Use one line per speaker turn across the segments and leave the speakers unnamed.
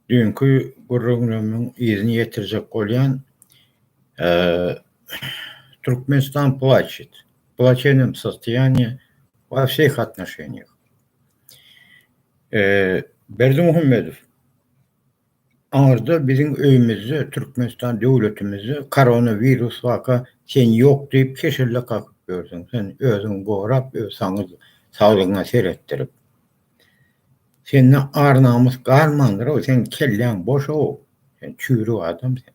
Düýnki gürrüňimiň yzyny ýetirjek bolýan. Türkmenistan plaçit. Plaçenem sostoýaniýe we wseh atnoşenýeh. Berdimuhamedow aňyrda biziň öýümizde, Türkmenistan döwletimizde koronawirus waka sen ýok diýip keşelle kakyp ýörseň, sen özüňi gorap, öz saglygyňa seretdirip. Sende ar namys galmandyrow seň kelläň boşow sen çüýrük adam sen.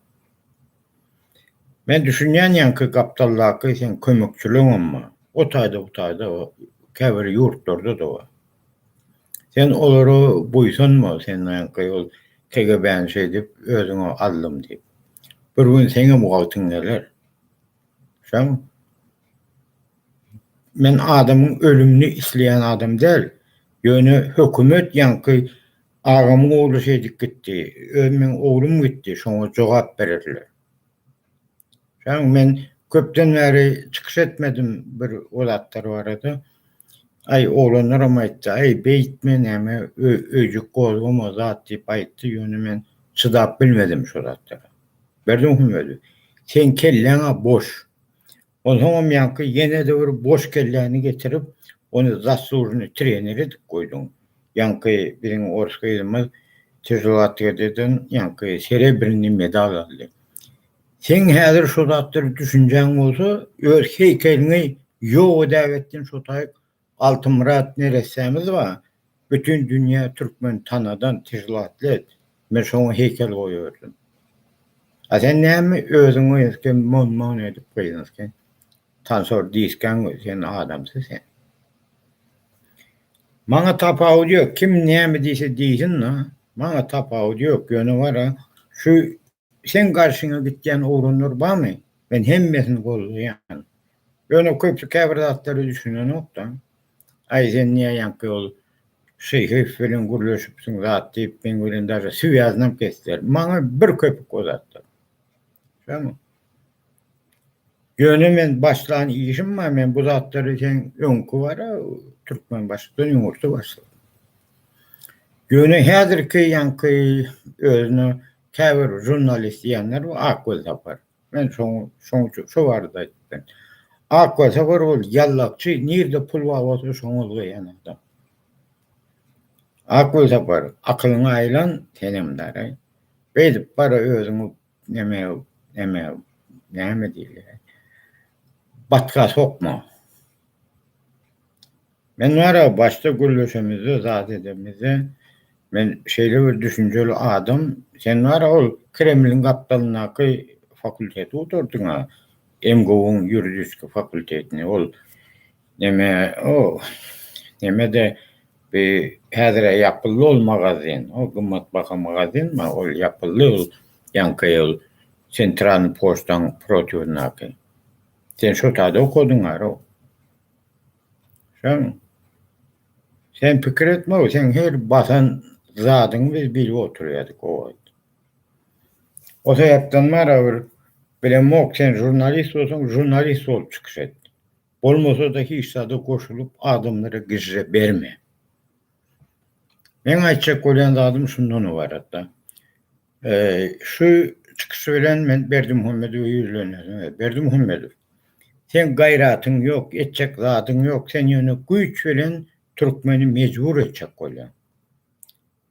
Men düşünýän ýaňky gapdaldaky seň kömekçileňem bar o taýda bu taýda käbir ýurtlarda da bar. Sen olara buýsanma sen ýaňky ol KGB-ni şeýdip özüňe aldym diýip. Bir gün seňem wagtyň geler. Şoň. Men adamyň ölümini isleýän adam däl. Ýöne hökümet ýaňky agamyň ogly şeý edip gitdi. Öz meň oglum gitdi, şoňa jogap bererler. Jan men köpden bäri çykyş etmedim bir o zatlar barada. Aý oglanlaram aýtdy, aý beýtme näme öýjük gozgama zat diýip aýtdy, ýöne men çydap bilmedim şo zatlara. Berdimuhammedow, seň kelläň-ä boş. Onsoňam ýaňky ýene-de bir boş kelläni getirip, ony zaslužnyý trener edip goýduň. Ýaňky biziň ors gyzymyz tüzli atletikadan ýaňky serebrnyý medal aldy. Seň häzir şo zatlara düşünjäň bolsa, öz heýkeliňi ýok edägetdin şo taýyk Altymyrat neressämiz ba bütün dünýä türkmen tanadan tizlatlet men şoňa heýkel goýberdim. A sen näme özüň öýdüpke mon mon edip gyzynysky tansor diýiskäň we sen adamsy sen. Maňa tapawudy ýok kim näme diýse diýsin da maňa tapawudy ýok ýöne bara şu Seň garşyňa gitýän oglanlar barmy? Men hemmesini goldaýan. Ýöne köpüsi käbir zatlara düşünenok-da. Aý, sen näme ýaňky ýol Şeýhow bilen gürleşipsiň zat diýip, meň bilen daşy swýaznam kesdiler. Maňa bir köpük o zatdan. Şonuň. Ýöne men başlan işim bar, men bu zatlary seň öňki bar-a, Türkmenbaşydan ýumurtga başladym. Ýöne häzirki ýaňky özüne Käbir žurnalist diýenler bu Ak Welsapar. Men şoň şoň üçin şo barada aýtdym. Ak Welsapar ol ýallakçy, nirde pul bar bolsa şoňa ulgaýan adam. Ak Welsapar, akylyňy aýlan senem daraý. Beýdip bara özüňi neme neme näme diýilýär? Batga sokma. Men barag başda gürleşemizde zat edemizde men şeýle bir düşünjeli adam sen barag ol kremliň gapdalyndaky fakulteti gutardyňa MGU-nyň ýuridiski fakultetini ol neme o nemede bi häzire ýapyldy ol magazin o gymmat baha magazin ma ol ýapyldy ol ýaňky ol sentralny poçtaň protiwyndaky sen şo tada okadyň aroo. Sen sen pikir etme, sen her basan zadyňy biz bilip oturýardyk o wagt. O sebäpden mara bir bilemok, sen žurnalist bolsaň, žurnalist bolup çykyş et. Bolmasa-da hiç zada goşulyp adamlara gijre berme. Meň aýtjak bolýan zadym şundan ybaratda. Şu çykyşy bilen men Berdimuhamedowa ýüzlenýärin. Berdimuhamedow, seň gaýratyň ýok, etjek zadyň ýok, sen ýöne güýç bilen türkmeni mejbur etjek bolýaň.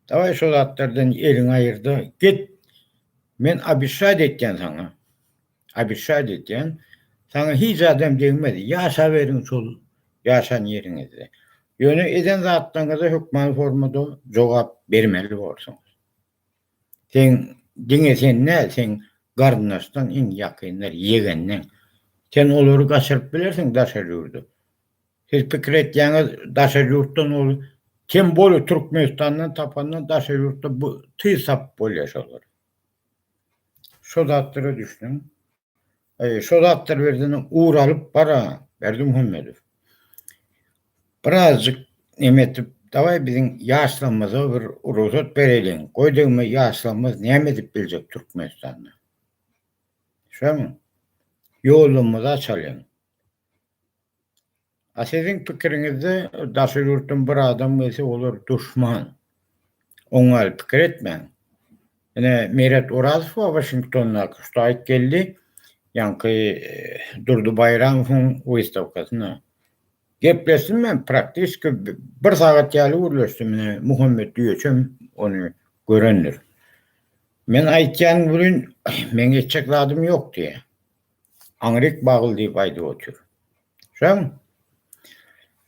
Dawaý şo zatlardan eliňi aýyrda, git. Men abişaýt etýän saňa. Abişaýt etýän, saňa hiç adam degmez, ýaşaberiň şol ýaşan ýeriňizde. Ýöne eden zatlaryňyza hökman formada jogap bermeli borsuňyz. Seň diňe sen däl, seň garyndaşlaň, iň ýakynlar, ýegenleň. Sen olary gaçyryp bilersiň daşary ýurda. Siz pikir etýäňiz, daşary ýurtdan ol Tem bole Türkmenistandan tapanda daşary ýurtda bu tyz tapyp bolýar şolary. Şo zatlara düşüniň. Şo zatlar birden ugur alyp bara Berdimuhamedow. Birazjyk neme edip, dawaý biziň ýaşlarymyza bir rugsat bereliň. Goý degme ýaşlarymyz näme edip biljek Türkmenistanda. Şoň ýolumyzy açalyň. A siziň pikiriňizde daşary ýurtdan bir adam gelse olar duşman. Oň ýaly pikir etmäň. Ine Meret Orazow bar Waşingtondaky şu taýt geldi ýaňky Durdy Baýramowyň wystawkasyna. Gepleşdim men praktiski bir sagat ýaly gürleşdim ine Muhammet Düýeçem ony görendir. Men aýtýan welin meň etjek zadym ýok diýýä. Aňryk bagly diýip aýdyp otyr. Şoň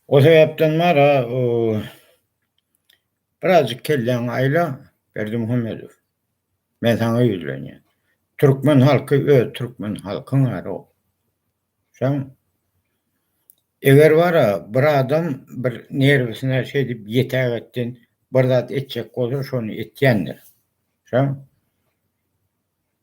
o sebäpden bar-a, birazjyk kelläňi aýla, Berdimuhamedow. Men saňa ýüzlenýän. Türkmen halky öz türkmen halkyň ara. Şoň eger bar-a, bir adam bir nerwisine şeýdip ýetäk etsin, bir zat etjek bolsa, şony etýändir. Şoň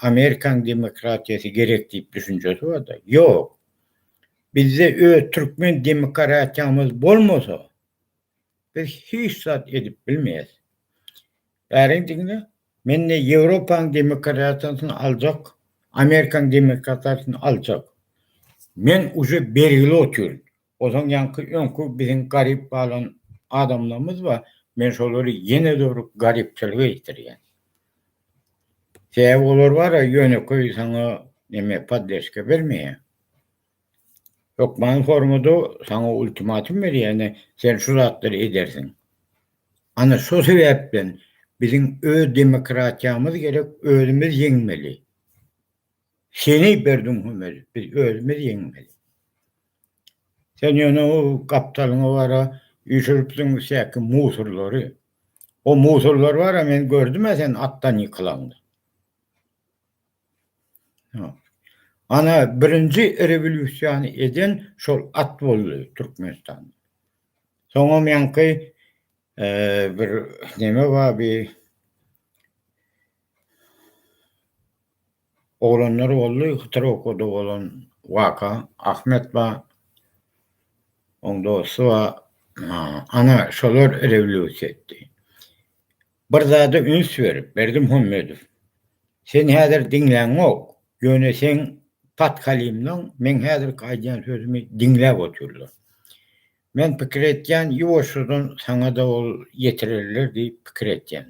Amerikan demokratiýasy gerek diýip düşünjesi barda, ýok. Bizde öz türkmen demokratiýamyz bolmasa, biz hiç zat edip bilmeýäs. Bäriň diňle, men-de Ýewropanyň demokratiýasyny aljak, Amerikan demokratiýasyny aljak. Men uje bergili otyryn. Ozan ýaňky öňki biziň garyp galan adamlarymyz bar, men şolary ýene-de bir garypçylyga ýetirýän. Sebäbi olar bar-a ýönekeý saňa neme poddeşka bermeýär. Hökman formada saňa ultimatum berýär, ine sen şu zatlary edersiň. Ana şo sebäpden biziň öz demokratiýamyz gerek, özümiz ýeňmeli. Seni bir düňhemeli, biz özümiz ýeňmeli. Sen ýöne o gapdalyňa bara üýşüripsiň säki musurlary. O musurlar bara men gördüm-ä sen atdan ýykylaňda. Ana birinji rewolýusiýany eden şol at boldy Türkmenistanda. Soňam ýaňky bir neme bar bir Oglanlar boldy hytyr okady bolan waka Ahmet ba oň dosty ba ana şolar rewlýusiýa etdi. Bir zada üns berip Berdimuhammedow sen häzir diňläňok ýöne seň patkalimlaň meň häzirki aýdýan sözümi diňläp otyrlar. Men pikir etýän ýuwaşjadan saňada ol ýetirerler diýip pikir etýän.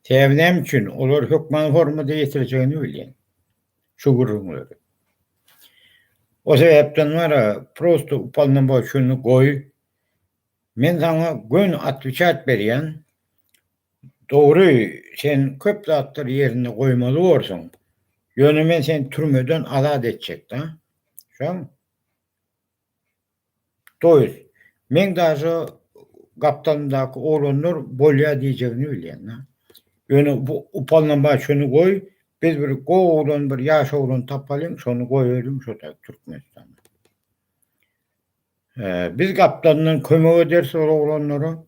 Sebäbi näme üçin? Olar hökman hormata ýetirjegini bilýän. Şu gürrüňleri. O sebäpden wara, prosto upalnomoçenni goý. Men saňa gön atwiçat berýän. Dogry, sen köp zatlary ýerinde goýmaly borsuň. Ýöne men seni türmeden azat etjek-dä. Şoň? Doýuz. Meň daže gapdalymdaky oglanlar bolýa diýjegini bilýän-a. Ýöne bu upalanma şuny goý, biz bir gowy oglan bir ýaş oglan tapalyň şony goýalyň şo-da Türkmenistana. Biz gapdalyndan kömek ederis ol oglanlara.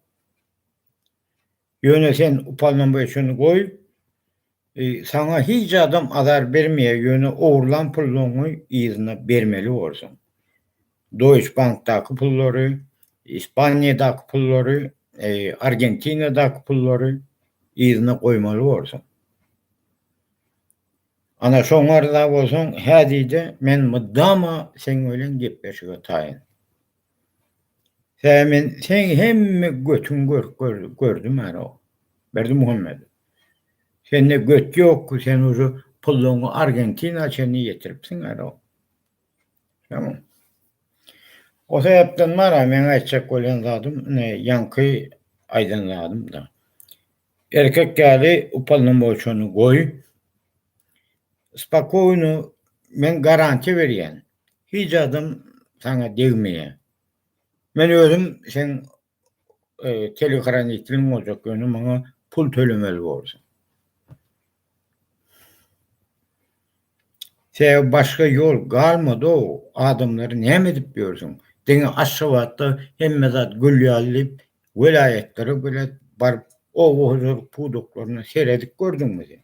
Ýöne sen upalanma şuny goý, Saňa hic adam azar bermeýär ýöne ogurlan pullaňy yzyna bermeli borsuň. Doýç bankdaky pullary, Ispaniýadaky pullary, Argentinadaky pullary yzyna goýmaly borsuň. Ana şoň arza bolsaň häzide men mydama seň bilen gepleşige taýyn. Sämen seň hemme götüň görk gördi gördi many o Berdimuhamet sende göt ýokky sen uje pullaňy argentina çenli ýetiripsiň many o tamam o sebäpden many meň aýtjak bolýan zadym ine ýaňky aýdan zadymda erkek ýaly upalnomoçony goý spokojno men garantiýa berýän Hic adam saňa degmeýär. Men özüm seň telehoranitliň boljak ýöne maňa pul tölemeli borsuň. Sebäbi başga ýol galmady-ow adamlary näme edip ýörsüň. Diňe Aşgabatda hemme zat gül ýaly diýip welaýatlara welä baryp oba hojalyk pudaklaryna seredip gördüňmi sen.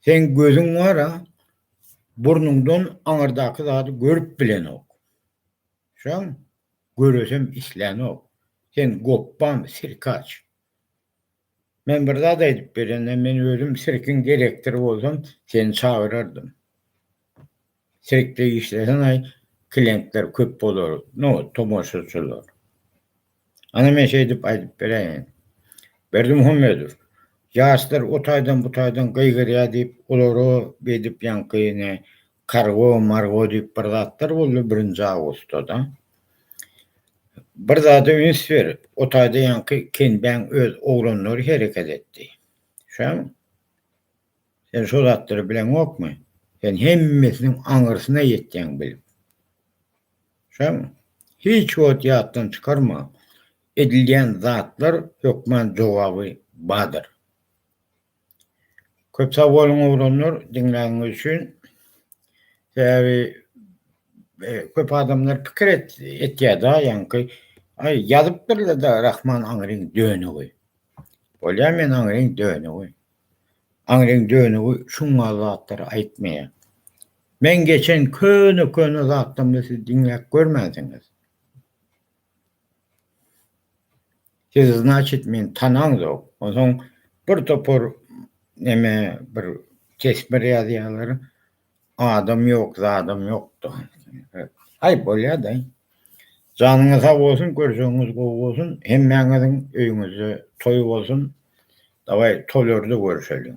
Seň gözüň bar-a, burnuňdan aňyrdaky zady görüp bilenok. Şaň, göresem islänok. Sen gopbam, sirkaç. Men bir zat aýdyp berende, men özüm sirkiň direktory bolsam, seni çagyrardym. Sirkde işleseň-aý, klientler köp bolar, no, tomaşaçylar. Ana men şeýdip aýdyp beräýen. Berdimuhammedow, Ýaşlar o taýdan bu taýdan gygyrýar diýip, olara beýdip ýaňky ne, kargo, margo diýip bir zatlar boldy birinji awgustda-da. Bir zada üns ber, o taýda ýaňky Kenbäň öz oglanlary hereket etdi. Şämi? Sen şo zatlary bileňokmy? Sen hemmesiniň aňyrsyna ýetýäň bilip. Şoňa hiç wagt ýatdan çykarma, edilýän zatlar hökman jogaby bardyr. Köp sag boluň oglanlar diňläniňiz üçin. Sebäbi köp adamlar pikir etýärda ýaňky aý ýazypdyrlar-da Rahman aňryň dönügi. Bolýa men aňryň dönügi. Aňryň dönügi şuňňal zatlary aýtmaýar. Meň geçen köne-köne zatlarymda siz diňläp görmänsiňiz. Sizi znaçit men tanaňzok. Onsoň bir topar neme bir tesbir ýazýarlar. Adam ýok zadam ýokda. Aý bolýada. Janyňyz sag bolsun görjegiňiz gowy bolsun hemmäňiziň öýüňizde toý bolsun dawaý toýlarda görüşeliň.